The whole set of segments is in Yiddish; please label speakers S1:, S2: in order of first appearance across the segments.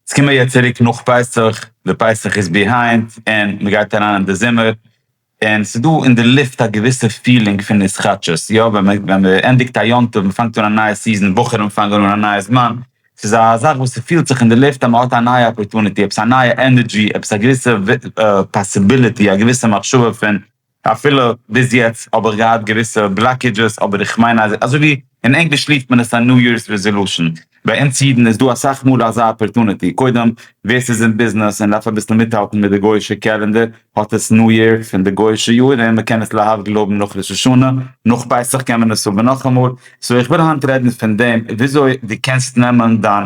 S1: עס קומען יעצט צוריק נאך פסח, די פסח איז ביהיינד און מען גייט אריין אין די זומער, און עס איז דא אין די לופט א געוויסע פילינג פון התחדשות, יא ווען מען ווען מען ענדיגט א יום טוב, מען פאנגט אן א נייע סיזען, בחורים פאנגען אן א נייע זמן, עס איז א זאך וואס עס פילט זיך אין די לופט אז מען האט א נייע אפערטוניטי, עפעס א נייע ענערדזשי, עפעס א געוויסע פאסיביליטי, א געוויסע מחשבה פון אפילו ביז יעצט האב איך געהאט געוויסע בלאקעדזשעס אבער איך מיין אז אזוי ווי אין ענגליש רופט מען עס א ניו יארס רעזעלושען ביי אונז אידן איז דא אסאך מאל אזא אפערטונעטי קודם ווער ס'איז אין ביזנעס און דארף אביסל מיטהאלטן מיט די גויאישע קעלענדער האט עס ניו יאר פון די גויאישע יאר און מ'קען עס להבדיל האבן נאך ראש השנה נאך פסח קען מען עס האבן נאכאמאל סאו איך וויל היינט רעדן פון דעם וויאזוי דו קענסט נעמען דיין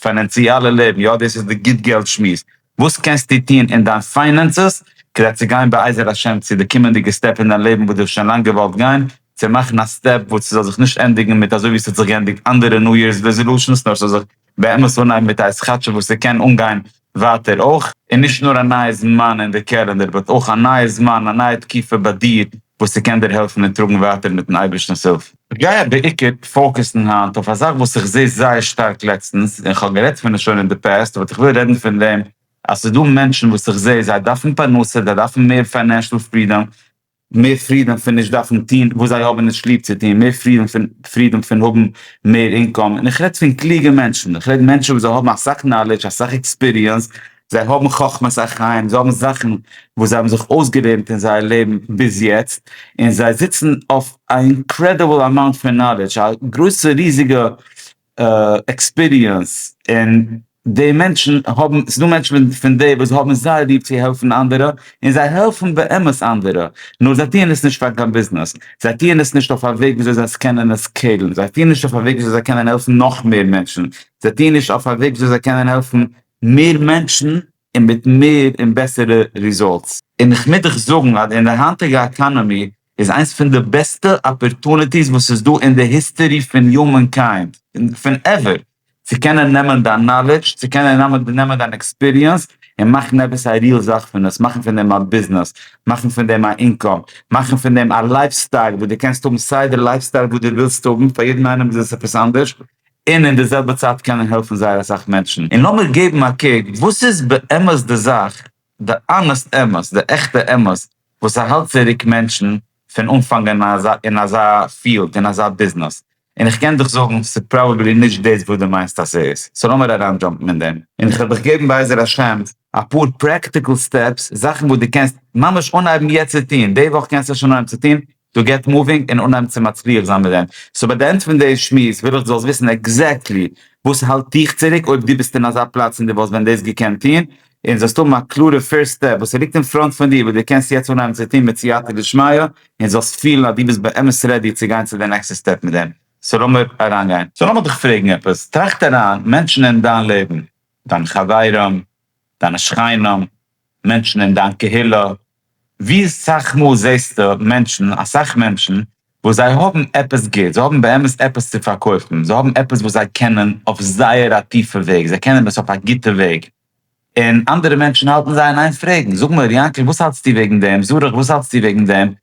S1: פיינענציאלע לעבן יא דאס איז די גוט געלט שמועס וואס קענסטו טון אין דיין פיינענסעס כדי צו גיין בעזר השם צו די קומענדיגע סטעפ אין דיין לעבן וואס דו האסט שוין לאנג געוואלט גיין, צו מאכן א סטעפ וואס ס'זאל זיך נישט ענדיגן מיט אזוי ווי ס'האט זיך געענדיגט אנדערע ניו יערס רעזעלושענס נאר ס'זאל זיך באמת אנהייבן מיט עפעס כאטשיג וואס ס'קען אנגיין ווייטער אויך. און נישט נאר א נייע זמן אין די קעלענדער באט אויך א נייע זמן א נייע תקופה ביי דיר וואס ס'קען דיר העלפן און טראגן ווייטער מיטן אייבערשטנ'ס הילף. כ'גיי בעיקר פאוקעסן היינט אויף א זאך וואס איך זעה זייער שטארק לעצטנס, און כ'האב גערעדט פון עס שוין אין די פעסט, באט איך וויל רעדן פון דעם אז ס'איז דא מענטשן וואס איך זעה זיי דארפן פרנסה, זיי דארפן מער פיינענשעל פרידאם, מער פרידאם פון נישט דארפן טון וואס זיי האבן נישט ליב צו טון, מער פרידאם פון פרידאם פון האבן מער אינקאם, און איך רעד פון קלוגע מענטשן, איך רעד מענטשן וואס זיי האבן אסאך נאלעדזש, אסאך עקספיריענס, זיי האבן חכמת החיים, זיי האבן זאכן וואס זיי האבן זיך אויסגעלערנט אין זייער לעבן ביז יעצט, און זיי זיצן אויף א אינקרעדיבל אמאונט פון נאלעדזש, א גרויסע ריזיגע עקספיריענס, און די מענטשן האבן, ס'דא מענטשן פון די וואס האבן זייער ליב צו העלפן אנדערע, און זיי העלפן באמת אנדערע, נאר זיי טוען עס נישט פאר קיין ביזנעס, זיי טוען עס נישט אויף א וועג וויאזוי זיי קענען עס קעלן, זיי טוען נישט אויף א וועג וויאזוי זיי קענען העלפן נאך מער מענטשן, זיי טוען נישט אויף א וועג וויאזוי זיי קענען העלפן מער מענטשן און מיט מער און בעסערע ריזאלטס. און איך מוז דיך זאגן אז אין די היינטיגע עקאנאמי איז איינס פון די בעסטע אפערטוניטיס וואס איז דא אין די היסטערי פון יומען קיינד, פון עווער, צו קענען נעמען דיין נאלעדזש, צו קענען נעמען דיין עקספיריענס און מאכן עפעס א ריעל זאך פון עס, מאכן פון דעם א ביזנעס, מאכן פון דעם א אינקאם, מאכן פון דעם א לייף סטייל וואס דו קענסט האבן סיי די לייף סטייל וואס דו ווילסט האבן, פאר יעדן איינעם איז עס עפעס אנדערש, און אין די זעלבע צייט קען ער העלפן זייער אסאך מענטשן, און לאמיר געבן א קוק וואס איז באמת די זאך, די אנעסט אמת, די עכטע אמת, וואס ס'האלט צוריק מענטשן פון אנפאנגען אין אזא פיעלד, אין אזא ביזנעס, און איך קען דיך זאגן ס'איז פראבעבלי נישט דאס וואס דו מיינסט אז ס'איז, סאו לאמיר אריינדזשאמפן אין דעם, און איך וועל דיך געבן בעזר השם אפאר פרעקטיקל סטעפס, זאכן וואס דו קענסט ממש אנהייבן יעצט צו טון, די וואך קענסטו שוין אנהייבן צו טון, דו געט מאווינג און אנהייבן צו מצליח זיין מיט דעם. סאו ביי די ענד פון די שמועס וויל איך דו זאלסט וויסן עקזעקטלי וואס האלט דיך צוריק אויב דו ביסט אין אזא פלאץ און דו וואלסט ווען דאס געקענט טון, און זאלסט האבן א קלארע פירסט סטעפ וואס ליגט אין פראנט פון דיר וואס דו קענסט יעצט אנהייבן צו טון מיט סייעתא דשמיא, און זאלסט פילן אז דו ביסט באמת רעדי צו גיין צו די נעקסטע סטעפ מיט דעם. סאו לאמיר אריינגיין. סאו לאמיר דיך פרעגן עפעס. טראכט אריין, מענטשן אין דיין לעבן, דיינע חברים, דיינע שכנים, מענטשן אין דיין קהילה, ווי אסאך מאל זעסטו מענטשן, אסאך מענטשן, וואס זיי האבן עפעס גוטס, זיי האבן באמת עפעס צו פארקויפן, זיי האבן עפעס וואס זיי קענען אויף זייער א טיפע וועג, זיי קענען עס אויף א גוטע וועג, און אנדערע מענטשן האלטן זיי אין איין פרעגן, זאג מר. יענקל וואס האלטסטו וועגן דעם? זרח וואס האלטסטו וועגן דעם?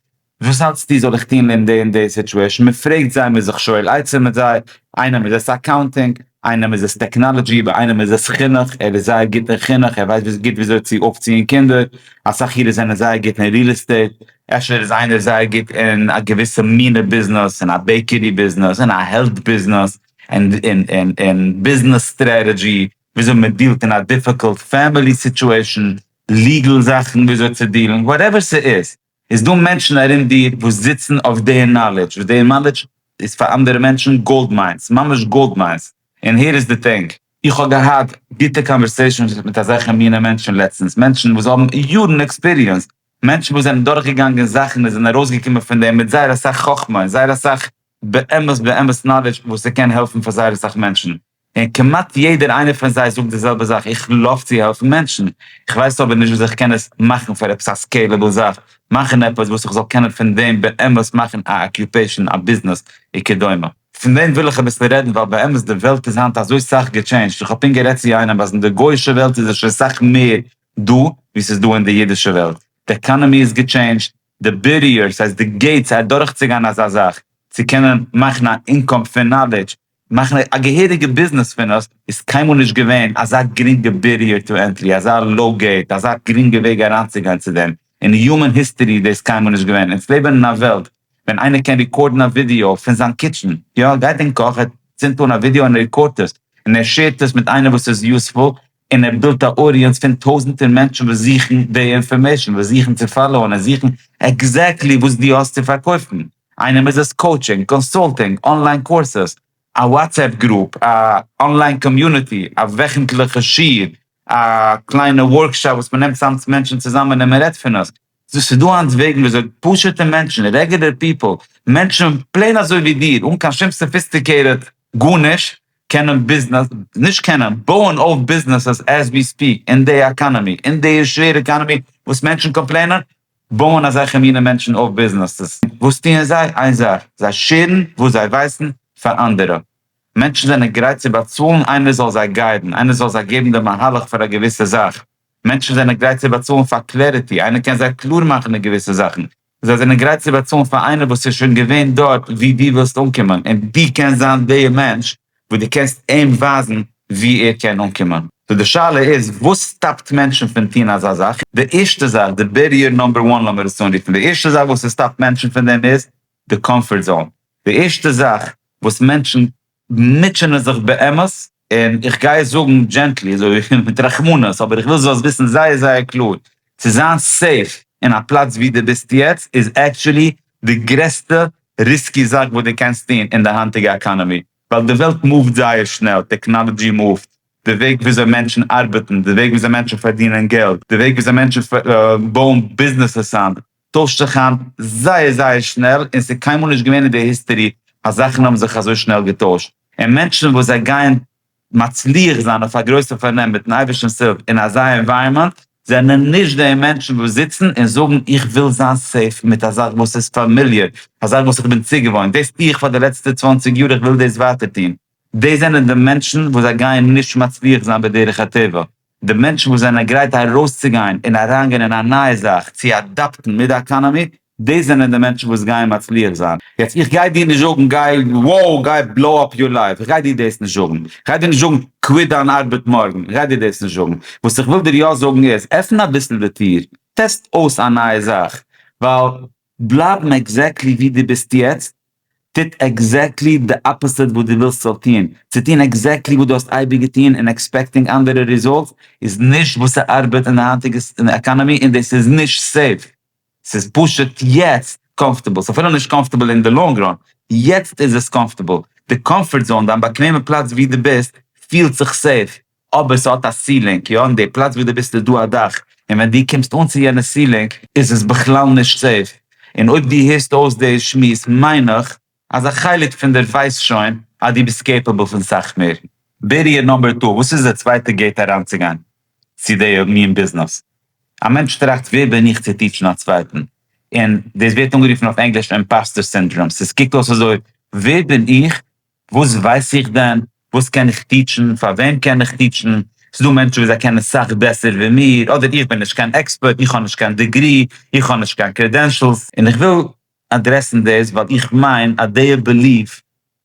S1: וואס האלטסטו זאל איך טון אין די און די סיטועשן? מען פרעגט זיי, מען איז זיך שואל עצה מיט זיי, איינעם איז עס אקאונטינג, איינעם איז עס טעקנאלעדזשי, ביי איינעם איז עס חינוך, ער איז זייער גוט אין חינוך, ער ווייסט גוט וויאזוי צו אויפציען קינדער, אסאך אירע זענען זייער גוט אין ריעל עסטעיט, אפשר איז איינער זייער גוט אין א געוויסע מינע ביזנעס, אין א בעיקערי ביזנעס, אין א העלט ביזנעס, אין ביזנעס סטרעטעדזשי, וויאזוי מען דיעלט אין א דיפיקולט פעמילי סיטועשן, ליגעל זאכן וויאזוי צו דיעלן, וואטעווער ס'איז, איז דא מענטשן ארום דיר וואס זיצן אויף די נאלעדזש, וואס די נאלעדזש איז פאר אנדערע מענטשן גאלד מיינס, ממש גאלד מיינס, און הער איז די טענג, איך האב געהאט גוטע קאנווערסעישאנס מיט אזעלכע מיני מענטשן לעצטנס, מענטשן וואס האבן יארן עקספיריענס, מענטשן וואס זענען דורך געגאנגען זאכן און זענען ארויס געקומען פון דעם מיט זייער אסאך חכמה און זייער אסאך באמת באמת נאלעדזש וואס ס'קען העלפן פאר זייער אסאך מענטשן. און כמעט יעדער איינער פון זיי זאגט די זעלבע זאך, איך לויף צו העלפן מענטשן, איך ווייס אבער נישט וויאזוי איך קען עס מאכן פאר עפעס א סקעילעבל זאך, מאכן עפעס וואס איך זאל קענען פון דעם באמת מאכן א אקיופעישאן, א ביזנעס, וכדומה. פון דעם וויל איך אביסל רעדן ווייל באמת די וועלט איז היינט אזוי סאך געטשעינדזשט, איך האב פונקט גערעדט צו איינעם אז אין די גוי'אישע וועלט איז עס שוין סאך מער דא ווי ס'איז דא אין די אידישע וועלט, די עקאנעמי איז געטשעינדזשט, די בעריערס, ס'הייסט די געיטס אדורכצוגיין אזא זאך, צו קענען מאכן א אינקאם פון נאלידזש, מאכן א געהעריגע ביזנעס פון עס, איז קיינמאל נישט געווען אזא גרינגע בעריער טו ענטרי, אזא לאו געיט, אזא גרינגע וועג אריינצוגיין צו דעם, אין יומען היסטערי איז דאס קיינמאל נישט געווען, אונז לעבן אין א וועלט ווען איינער קען ריקארדן א ווידיאו פון זיין קיטשען, יא גייט אין קאך ער צינדט אן א ווידיאו און ער ריקארדט עס, און ער שעירט עס מיט איינער וואס איז יוזפול, און ער בילדט א אודיענס פון טויזענטער מענטשן וואס זוכן די אינפארמעישן, וואס זוכן צו פאלאוען און זוכן עקזעקטלי וואס דו האסט צו פארקויפן, איינעם איז עס קאוטשינג, קאנסולטינג, אנליין קורסעס, א וואטסעפפ גרופ, א אנליין קאמיוניטי, א וועכנטליכע שיעור, א קליינע ווארקשאפ וואס מען נעמט צאם מענטשן צוזאמען און מען רעדט פון עס, ס'איז דא היינט וועגן וויאזוי פשוט'ע מענטשן, רעגולער פיפל, מענטשן פלעין אזוי ווי דיר, אן קיין שום סאפיסטיקעיטעד גארנישט, קענען ביזנעס, נישט קענען, בויען אויף ביזנעסעס עז ווי ספיעק, אין די עקאנעמי, אין די שווערע עקאנעמי וואס מענטשן קאמפלעינען, בויען אזעלכע מינע מענטשן אויף ביזנעסעס. וואס טוען זיי? איין זאך, זיי שעירן וואס זיי ווייסן פאר אנדערע. מענטשן זענען גרייט צו באצאלן איינער זאל זיי גיידן, איינער זאל זיי געבן די מהלך פאר א געוויסע זאך. מענטשן זענען גרייט צו באצאלן פאר קלעריטי, איינער קען זיי קלאר מאכן אין געוויסע זאכן, זיי זענען גרייט צו באצאלן פאר איינער וואס איז שוין געווען דארט ווי דו ווילסט אנקומען, און דו קענסט זיין די מענטש וואס דו קענסט אים ווייזן וואו ער קען אנקומען. סאו די שאלה איז, וואס סטאפט מענטשן פון טון אזא זאך? די ערשטע זאך, די בעריער נאמבער וואן לאמיר עס אנרופן, די ערשטע זאך וואס עס סטאפט מענטשן פון דעם איז די קאמפארט זאון, די ערשטע זאך וואס מענטשן מוטשענען זיך באמת, און איך גיי עס זאגן דזשענטלי, אזוי מיט רחמנות, אבער איך וויל דו זאלסט וויסן זייער זייער קלאר, צו זיין סעיף אין א פלאץ ווי דו ביסט יעצט איז עקטשולי די גרעסטע ריסקי זאך וואס דו קענסט טון אין די היינטיגע עקאנאמי, ווייל די וועלט מופט זייער שנעל, טעקנאלעדזשי מופט, די וועג וויאזוי מענטשן ארבעטן, די וועג וויאזוי מענטשן פארדינען געלט, די וועג וויאזוי מענטשן בויען ביזנעסעס איין טוישט זיך היינט זייער זייער שנעל און ס'איז קיינמאל נישט געווען אין די היסטערי אז זאכן האבן זיך אזוי שנעל געטוישט און מענטשן וואס זיי גייען מצליח זיין אויף א גרויסע פארנעם מיטן אייבערשטנ'ס הילף אין אזא ענווייראמענט זענען נישט די מענטשן וואס זיצן און זאגן איך וויל זיין סעיף מיט א זאך וואס איז פאמיליער א זאך וואס איך בין צוגעוואוינט דאס טו איך פאר די לעצטע צוואַנציק יאר איך וויל דאס ווייטער טון דאס זענען די מענטשן וואס זיי גייען נישט מצליח זיין בדרך הטבע. די מענטשן וואס זענען גרייט ארויסצוגיין און אריינגיין אין א נייע זאך צו אדאפטן מיט די עקאנאמי, דאס זענען די מענטשן וואס גייען מצליח זיין. יעצט איך גיי דיר נישט זאגן גיי wow גיי בלאו אפ יור לייף, איך גיי דיר דאס נישט זאגן, איך גיי דיר נישט זאגן קוויט דיין ארבעט מארגן, איך גיי דיר דאס נישט זאגן, וואס איך וויל דיר יא זאגן איז, עפן אביסל די טיר, טעסט אויס א נייע זאך, ווייל בלייבן עקזעקטלי ווי דו ביסט יעצט, טוט עקזעקטלי די אפאזיט וואס דו ווילסט ס'זאל טון. צו טון עקזעקטלי וואס דו האסט אייביג געטון און עקספעקטינג אנדערע ריזאלטס איז נישט וואס ס'ארבעט אין די היינטיגע עקאנאמי און דאס איז נישט סעיף. ס'איז פשוט יעצט קאמפארטעבל. ס'איז אפילו נישט קאמפארטעבל אין די לאנג ראן. יעצט איז עס קאמפארטעבל. די קאמפארט זאון, דיין באקוועמע פלאץ ווי דו ביסט, פילט זיך סעיף. אבער ס'האט א סילינג, יא, און די פלאץ וואו דו ביסט איז דא א דאך, און ווען דו קומסט אן צו יענע סילינג איז עס בכלל נישט סעיף, און אויב דו הערסט אויס די שמועס מיין איך אז א חלק פון דיר ווייסט שוין אז דו ביסט קעיפעבל פון סאך מער. בעריער נאמבער טו, וואס איז די צווייטע געיט אריינצוגיין צו די מין ביזנעס? א מענטש טראכט ווער בין איך צו טיטשן א צווייטן? און דאס ווערט אנגערופן אויף ענגליש אימפאסטער סינדראם, ס'קוקט אויס אזוי ווער בין איך וואס ווייס איך דען? וואס קען איך טיטשן? פאר וועם קען איך טיטשן? ס'איז דא מענטשן וואס זיי קענען סאך בעסער ווי מיר, אדער איך בין נישט קיין עקספערט, איך האב נישט קיין דעגרי, איך האב נישט קיין קרעדענשעלס. און איך וויל אדרעסן דאס ווייל איך מיין אז דעיע בעליוו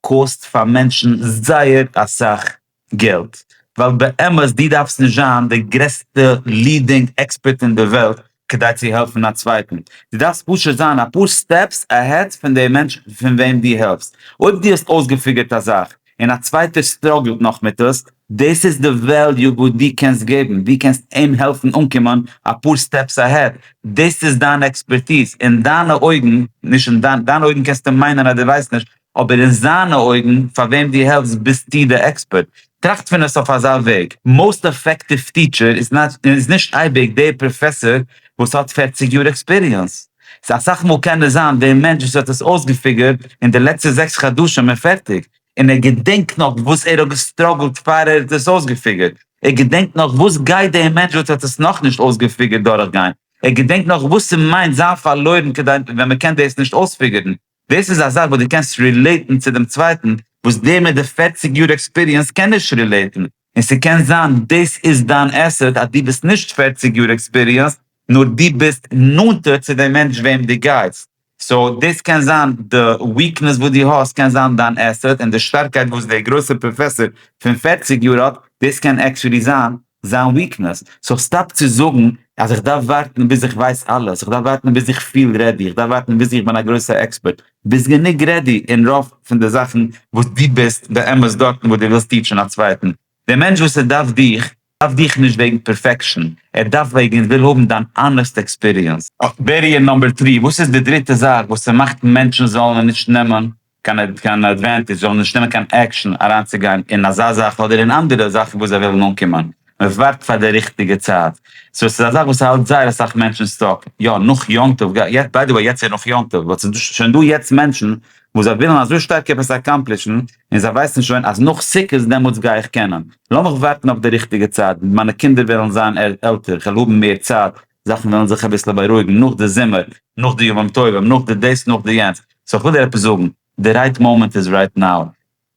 S1: קאוסט פאר מענטשן זייער אסאך געלט, ווייל באמת דו דארפסט נישט זיין די גרעסטע לידינג עקספערט אין די וועלט כדי צו העלפן א צווייטן, דו דארפסט פשוט זיין אפאר סטעפס עהעד פון די מענטש פון וועם דו העלפסט, אויב דו האסט אויסגעפיגערט א זאך און א צווייטער סטראגלט נאך מיט עס, דאס איז די וועליו וואס דו קענסט געבן, דו קענסט אים העלפן אנקומען אפאר סטעפס עהעד, דאס איז דיין עקספערטיז, אין דיינע אויגן, נישט אין דיין, דיינע אויגן קענסטו מיינען אז דו ווייסט נישט, אבער אין זיינע אויגן, פאר וועם דו העלפסט ביסטו די עקספערט. טראכט פון עס אויף אזא וועג, מאוסט אפעקטיוו טיטשער איז נישט אייביג דער פראפעסאר וואס האט פֿערציק יאר עקספיריענס. ס'איז אסאך מאל קען עס זיין דער מענטש וואס האט עס אויסגעפיגערט אין די לעצטע זעקס חדשים און פערטיג, און ער געדענקט נאך וואס ער האט געסטראגלט פאר ער האט עס אויסגעפיגערט, ער געדענקט נאך וואס גייט דער מענטש וואס האט עס נאכנישט אויסגעפיגערט דורכגיין, ער געדענקט נאך וואס ס'מיינט זיין פארלוירן כדי ווען מ'קען דאס נישט אויספיגערן. דאס איז א זאך וואס דו קענסט רילעיטן צו דעם צווייטן, וואס דער מיט די פֿערציק יאר עקספיריענס קען נישט רילעיטן, און ס'קען זיין דאס איז דיין עסעט אז דו ביסט נישט פֿערציק יאר עקספיריענסד, נאר דו ביסט נאנטער צו דעם מענטש וועם דו גייסט, סאו דאס קען זיין די וויקנעס וואס דו האסט קען זיין דיין עסעט, און די שטארקייט וואס דער גרויסער פראפעסאר פון פֿערציק יאר האט, דאס קען עקטשעלי זיין זיין וויקנעס, סאו סטאפ צו זאגן אז איך דארף ווארטן ביז איך ווייס אלעס, איך דארף ווארטן ביז איך פיל רעדי, איך דארף ווארטן ביז איך בין א גרויסע עקספערט, ביסט גענוג רעדי אין רוב פון די זאכן וואס דו ביסט באמת דארטן וואס דו ווילסט טיטשן א צווייטן, די מענטש וואס ער דארף דיך, דארף דיך נישט וועגן פערפעקשן, ער דארף וועגן ער וויל האבן דיין אנעסט עקספיריענס. אויף בעריער נאמבער טרי, וואס איז די דריטע זאך וואס ס'מאכט מענטשן זאלן נישט נעמען קיין אדווענטעדזש, זיי וועלן נישט נעמען קיין עקשאן אריינצוגיין אין אזא זאך אדער אין אנדערע זאכן וואס זיי ווילן אנקומען, מען ווארט פאר די ריכטיגע צייט, סאו עס איז א זאך וואס האלט זייער אסאך מענטשן סטאק, יא נאך יום טוב, ביי די וועי יעצט איז נאך יום טוב, באט ס'איז דא שוין דא יעצט מענטשן וואס זיי ווילן אזוי שטארק עפעס אקאמפלישן און זיי ווייסן שוין אז נאך סוכות דעמאלטס גיי איך קענען, לאמיך ווארטן אויף די ריכטיגע צייט, מיינע קינדער וועלן זיין עלטער, כ'וועל האבן מער צייט, זאכן וועלן זיך אביסל בארואיגן נאך די זומער, נאך די ימים טובים, נאך די דאס, נאך די יענץ, סאו איך וויל דיר עפעס זאגן, די רייט מאמענט איז רייט נאו,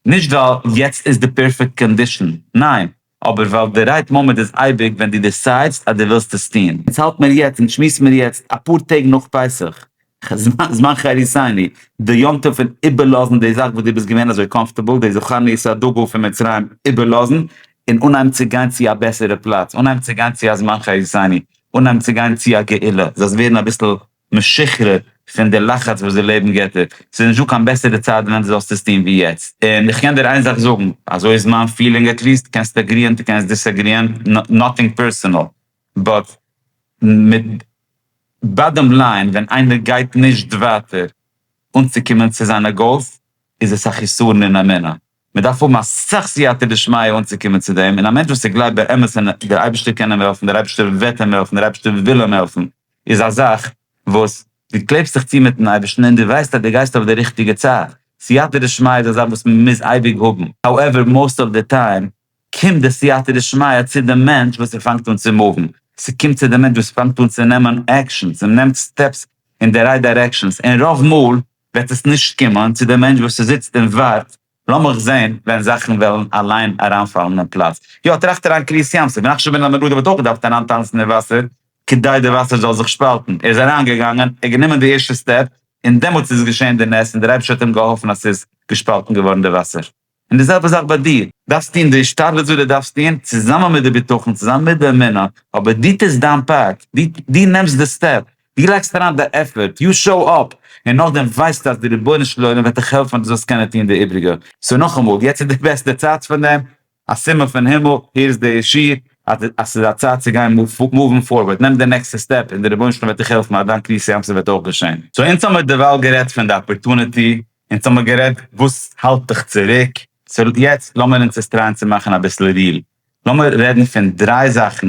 S1: נישט ווייל יעצט איז די פערפעקט קאנדישאן, ניין, אבער ווייל די רייט מאמענט איז אייביג ווען דו דעסיידסט אז דו ווילסט עס טון. אונז האלט מיר יעצט, אונז שמועס מיר יעצט, אפאר טעג נאך פסח, זמן חריתני, די יום טוב פון איבערלאזן די זאך וואס דו ביסט געווען אזוי קאמפארטעבל, די זכרון יצא א דגל פון מצרים איבערלאזן, און אנהייבן צו גיין צו א בעסערע פלאץ, אנהייבן צו גיין צו א זמן חריתני, אנהייבן צו גיין צו א גאולה, זאלסט ווערן אביסל משוחרר פון די לחץ וואס די לעבן געבט דיר, ס'איז נישטא קיין בעסערע צייט ווען דו זאלסט עס טון ווי יעצט. און איך קען דיר איין זאך זאגן, אזוי איז מיין פילינג עטליעסט, קענסט עגריען, דו קענסט דיסעגריען, נאטינג פערסענאל, באט מיט באדעם ליין ווען איינער גייט נישט ווייטער אנצוקומען צו זיינע גאולס איז עס א חיסרון אין אמונה, מען דארף האבן אסאך סייעתא דשמיא אנצוקומען צו דעם, און א מענטש וואס איז גלייבט באמת אין דער אייבערשטער קען אים העלפן, דער אייבערשטער וועט אים העלפן, דער אייבערשטער וויל אים העלפן, איז א זאך וואס דו קלעבסט זיך צו מיט'ן אייבערשטן און דו ווייסט אז דו גייסט אויף די ריכטיגע צד, סייעתא דשמיא איז א זאך וואס מען מוז אייביג האבן, האועווער מאוסט אוו די טיים קומט די סייעתא דשמיא צו דעם מענטש וואס ער פאנגט אן צו מופן, ס'קומט צו דעם מענטש וואס פאנגט אן צו נעמען עקשאנס און נעמט סטעפס אין די רייט דירעקשאנס, און רוב מאל וועט עס נישט קומען צו דעם מענטש וואס זיצט און ווארט, לאמיך זען ווען זאכן וועלן אליין אריינפאלן אין פלאץ. יא, טראכט אריין קרית ים סוף נחשון בן עמינדב האט אויך געדארפט אריינטאנצן אין וואסער כדי די וואסער זאל זיך שפאלטן, ער איז אריינגעגאנגען, ער האט גענומען די ערשטע סטעפ, און דעמאלטס איז געשען די נס און דער אייבערשטער האט אים געהאלפן אז ס'איז געשפאלטן געווארן די וואסער. און די זעלבע זאך ביי דיר, דארפסט טון די השתדלות וואס דו דארפסט טון, צוזאמען מיט די בטחון, צוזאמען מיט די אמונה, אבער דו טוסט דיין פארט, דו נעמסט די סטעפ, דו לייגסט אריין די עפערט, יו שאו אפ, און נאכדעם ווייסטו אז די רבונו של עולם וועט דיך העלפן אז דו זאלסט קענען טון די איבריגע. סאו נאכאמאל, יעצט איז די בעסטע צייט פאר דעם, א סימן פון הימל, הער עס דער שיר, אז ס'איז א צייט צו גיין מאוון פארווארד, נעם די נעקסטע סטעפ, און די רבונו של עולם וועט דיך העלפן אז דיין קריאת ים סוף וועט אויך געשען. סאו אונז האמיר דערווייל גערעדט פון די אפערטוניטי, אונז האמער גערעדט וואס האלט דיך צוריק, סאו יעצט לאמיר אונז עס טרייען צו מאכן אביסל ריעל, לאמיר רעדן פון דריי זאכן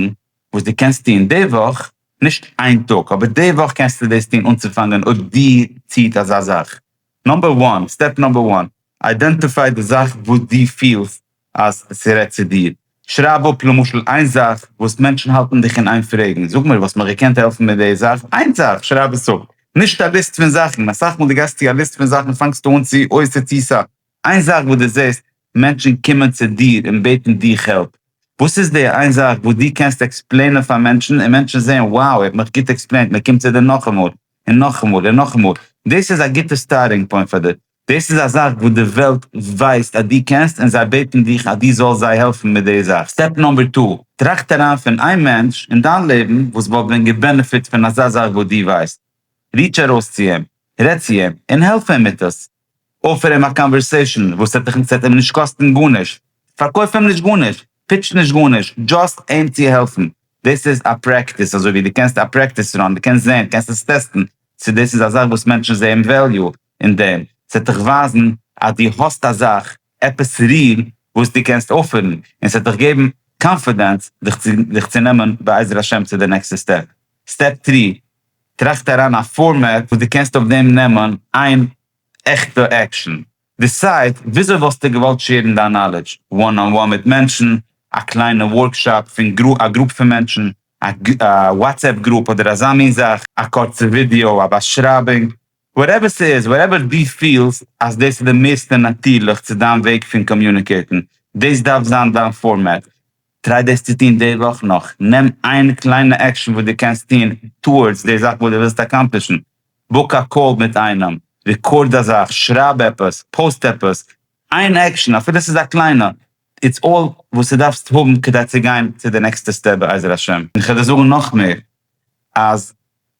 S1: וואס דו קענסט טון די וואך, נישט איין טאג אבער די וואך קענסטו דאס טון אנצופאנגען אויב דיר ציט אזא זאך, נאמבער וואן, סטעפ נאמבער וואן, איידענטיפיי די זאך וואס דו פילסט אז ס'רעדט צו דיר. שרייב אפ למשל איין זאך וואס מענטשן האלטן דיך אין איין פרעגן, זאג מיר וואלסט מיר געקענט העלפן מיט די זאך, איין זאך, שרייב עס אפ, נישט א ליסט פון זאכן, אסאך מאל דו גייסט צו א ליסט פון זאכן פאנגסטו אן צו עוסק צו סא, איין זאך וואס דו זעסט מענטשן קומען צו דיר און בעטן דיך העלפ, וואס איז די איין זאך וואס דו קענסט עקספלעינען פאר מענטשן און מענטשן זעען wow ער האט מיך גוט עקספלעינט מען קומט צו דיר נאכאמאל און נאכאמאל און נאכאמאל, דאס איז א גוטע סטארטינג פוינט פאר דיר, דאס איז א זאך וואס די וועלט ווייסט אז דו קענסט און זיי בעטן דיך אז דו זאלסט זיי העלפן מיט די זאך. סטעפ נאמבער טו, טראכט אריין פון איין מענטש אין דיין לעבן וואס וואלט ווען געבענעפיט פון אזא זאך וואס דו ווייסט. ריטש ארויס צו אים, רעד צו אים און העלף אים מיט עס. אפער אים א קאנווערסעישן וואס ס'וועט דיך ס'וועט אים נישט קאסטן גארנישט. פארקויף אים נישט גארנישט, פיטש נישט גארנישט, דזשאסט אים צו העלפן. דאס איז א פרעקטיס אזוי ווי דו קענסט א פרעקטיס ראן, דו קענסט זען, קענסט עס טעסטן צו דאס איז א זאך וואס מענטשן זעען וועליו, אין דעם, ס'וועט דיך ווייזן אז דו האסט א זאך, עפעס ריל וואס דו קענסט אויפפירן, און ס'וועט דיך געבן קאנפידענס דיך צו נעמען בעזר השם צו די נעקסטע סטעפ. סטעפ טרי, טראכט אריין א פארמעט וואס דו קענסט אויף דעם נעמען איין עכטע עקשאן. דיסייד וויאזוי וואלסטו געוואלט שעירן דיין נאלידזש, וואן אן וואן מיט מענטשן, א קליינע ווארקשאפ פון א גרופ פון מענטשן, א וואטסעפפ גרופ אדער אזא מין זאך, א קורצע ווידיאו, א באשרייבונג, וואטעווער ס'איז, וואטעווער דו פילסט אז דאס איז די מערסטע נאטירליך צו דיין וועג פון קאמיוניקעיטן, דאס דארף זיין דיין פארמעט. טריי דאס צו טון די וואך נאך. נעם איין קליינע עקשאן וואס דו קענסט טון טאוארדס די זאך וואס דו ווילסט אקאמפלישן. בוק א קאל מיט איינעם, רעקארד אזאך, שרייב עפעס, פאוסט עפעס, איין עקשאן אפילו ס'איז א קליינע איטס אלל וואס די דארפסט האבן כדי צו גיין צו די נעקסטע סטעפ בעזר השם. און כ'וועל דיר זאגן נאך מער אז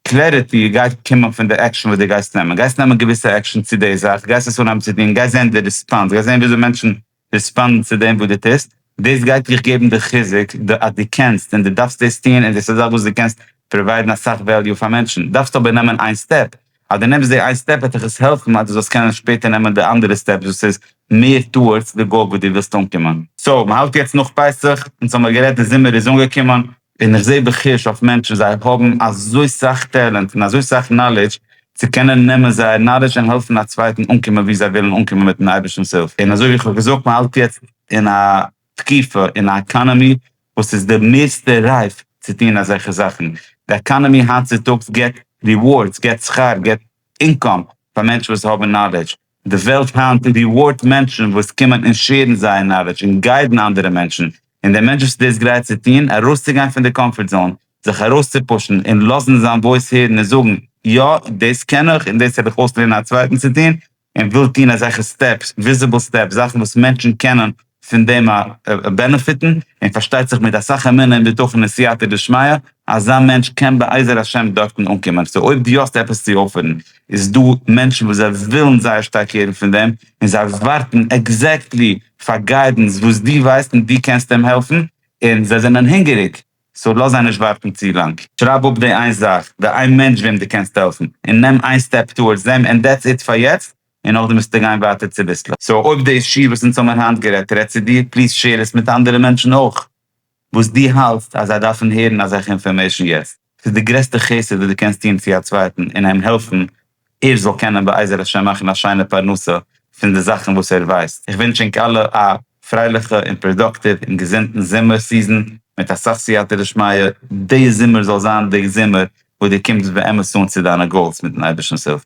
S1: קלעריטי גייט קומען פון די עקשאן וואס די גייסט נעמען, גייסט נעמען געוויסע עקשאן צו די זאך, גייסט עס אנהייבן צו טון, גייסט זען די ריספאנס, גייסט זען וויאזוי מענטשן ריספאנדן צו דעם וואס די טוסט, דאס גייט דיך געבן די חיזוק אז די קענסט און די דארפסט דאס טון און דאס איז א זאך וואס די קענסט פראוויידן אסאך וועליו פאר מענטשן, דארפסט אבער נעמען איין סטעפ, אז דו נעמסט די איין סטעפ וועט דיך עס העלפן אז דו זאלסט קענען שפעטער נעמען די אנדערע סטעפס וואס איז מער טאוארדס די גאול וואס דו ווילסט אנקומען. סאו, מען האלט יעצט נאך פסח, אונז האמיר גערעדט די זומער איז אנגעקומען, און איך זעה בחוש אויף מענטשן זיי האבן אזוי סאך טעלענט און אזוי סאך נאלידזש צו קענען נעמען זייער נאלידזש און העלפן א צווייטן אנקומען ווי זיי ווילן אנקומען מיטן אייבערשטנ'ס הילף, און אזוי ווי איך האב געזאגט מען האלט יעצט אין א תקופה אין א עקאנעמי וואס איז די מערסטע רייף צו טון אזעלכע זאכן. די עקאנעמי היינט צוטאגס געט ריווארדס, געט שכר, געט אינקאם פאר מענטשן וואס האבן נאלעדזש. די וועלט היינט ריווארדט מענטשן וואס קומען און שעירן זייער נאלעדזש און גיידן אנדערע מענטשן. און דער מענטש וואס איז דאס גרייט צו טון, ארויסצוגיין פון די קאמפארט זאון, זיך ארויסצופושן און לאזן זיין וואויס הערן און זאגן, יא, דאס קען איך און דאס העל איך אויס לערנען א צווייטן צו טון, און וויל טון אזעלכע סטעפס, וויזיבל סטעפס, זאכן וואס מענטשן קענען פון דעם בענעפיטן, און פארשטייט זיך מיט אסאך אמונה און בטחון און סייעתא דשמיא, אזא מענטש קען בעזר השם דארטן אנקומען. סאו אויב דו האסט עפעס צו אפערן, איז דא מענטשן וואס זיי ווילן זייער שטארק הערן פון דעם, און זיי ווארטן עקזעקטלי פאר גיידענס וואס דו ווייסט און דו קענסט אים העלפן, און זיי זענען הונגעריג סאו לאז זיי נישט ווארטן צו לאנג. שרייב אפ די איין זאך, די איין מענטש וועם דו קענסט העלפן, און נעם איין סטעפ טאווארדס דעם, און דעטס איט פאר יעצט, און נאכדעם וועסטו גיין ווייטער צוביסלעך. סאו אויב די אישי וואס אונז האבן היינט גערעדט רעדט צו דיר, פליז שעיר עס מיט אנדערע מענטשן אויך, וואס דו האלטסט אז זיי דארפן הערן אזעלכע אינפארמעישן יעצט. ס'איז די גרעסטע חסד וואס דו קענסט טון צו א צווייטן און איהם העלפן ער זאל קענען בעזר השם מאכן א שיינע פרנסה פון די זאכן וואס ער ווייסט, איך ווינטש ענק אלע א פרייליכע און פראדאקטיוו און געזונטן זומער סיזען מיט אסאך סייעתא דשמיא, די זומער זאל זיין די זומער וואס די קומסט באמת אן צו דיינע גאולס מיטן אייבערשטנ'ס הילף.